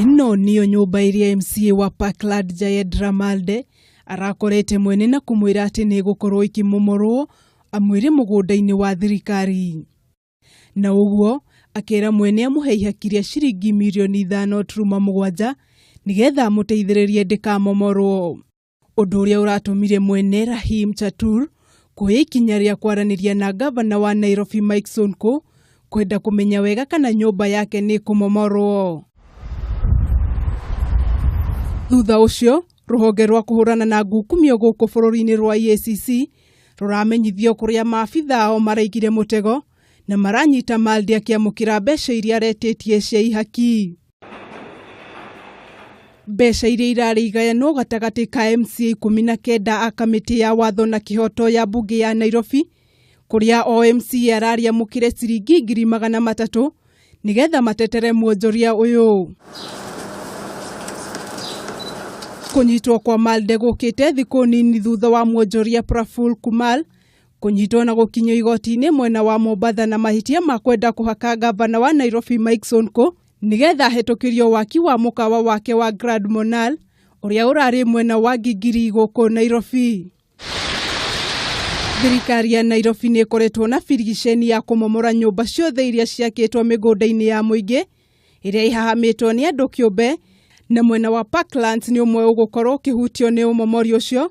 Ĩno nĩyo nyũmba ĩrĩa MCA wa Parkland Jayed Ramalde arakorete mwene na kũmwĩra atĩ nĩ ĩgũkorwo ĩkĩmomorwo amwĩre mũgũnda-inĩ wa thirikari. Na ũguo akera mwene amũhe ihaki rĩa ciringi mirioni ithano turuma mũgwanja nĩgetha amũteithĩrĩrie ndĩkamomorwo. ũndũ ũrĩa ũratũmire mwene Rahim Chatur kuoya ikinya rĩa kwaranĩria na ngavana wa Nairobi Mike Sonko kwenda kũmenya wega kana nyũmba yake nĩ kũmomorwo. Thutha ũcio rũhonge rwa kũhũrana na ngukumio gũkũ bũrũri-inĩ rwa EACC rũramenyithio kũrĩa maabitha ao maraigire mũtego na maranyita Maldi akĩamũkĩra mbeca iria aretĩtie cia ihaki. mbeca iria irarĩ igayanwo gatagatĩ ka MCA ikũmi na kenda a kamĩtĩ ya watho na kĩhoto ya mbunge ya Nairobi kũrĩa o MCA ararĩ amũkĩre ciringi ngiri magana matatũ nĩgetha matetere mwonjoria ũyũ. Kũnyitwo kwa Malde gũkĩte thikũ nini thutha wa mwonjoria Praful Kumar kũnyitwo na gũkinyio igoti-inĩ mwena wa Mombatha na mahĩtia ma kwenda kũhaka ngavana wa Nairobi Mike Sonko nĩgetha ahĩtũkĩrio waki wa mũkawa wake wa Grand Monal ũrĩa ũrarĩ mwena wa Ngingiri gũkũ Nairobi. Thirikari ya Nairobi nĩ ĩkoretwo na birigiceni ya kũmomora nyũmba ciothe iria ciakĩtwo mĩgũnda-inĩ ya mũingĩ ĩrĩa ĩhahamĩtwo nĩ andũ kĩũmbe na mwena wa Parklands nĩ ũmwe ũgũkorwo ũkĩhutio nĩ ũmomori ũcio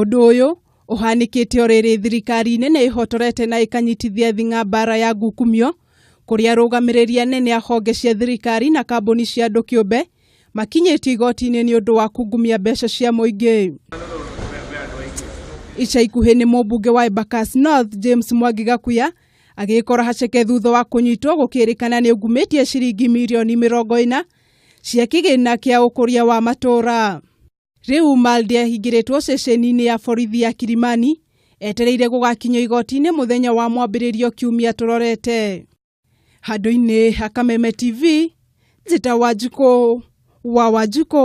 Ũndũ ũyũ ũhanĩkĩte o rĩrĩ thirikari nene ĩhotorete na ĩkanyitithia thing'a mbara ya ngukumio kũrĩa arũgamĩrĩri anene a honge cia thirikari na kambuni cia andũ kĩũmbe makinyĩtio igoti-inĩ nĩ ũndũ wa kungumia mbeca cia mũingĩ. Ica ikuhĩ nĩ mũmbunge wa Embakasi North James Mwangi Gakuya agĩkora haceke thutha wa kũnyitwo gũkĩrĩkana nĩ ungumĩtie ciringi mirioni mĩrongo ĩna cia kĩgĩna kĩa ũkũria wa matũra. Rĩu Malde ahingĩrĩtwo ceceni-inĩ ya borithi ya Kilimani etereire gũgakinyio igoti-inĩ mũthenya wa mwambĩrĩrio kiumia tũrorete. Handũ-inĩ ha Kameme TV, njĩta Wanjikũ wa Wanjikũ.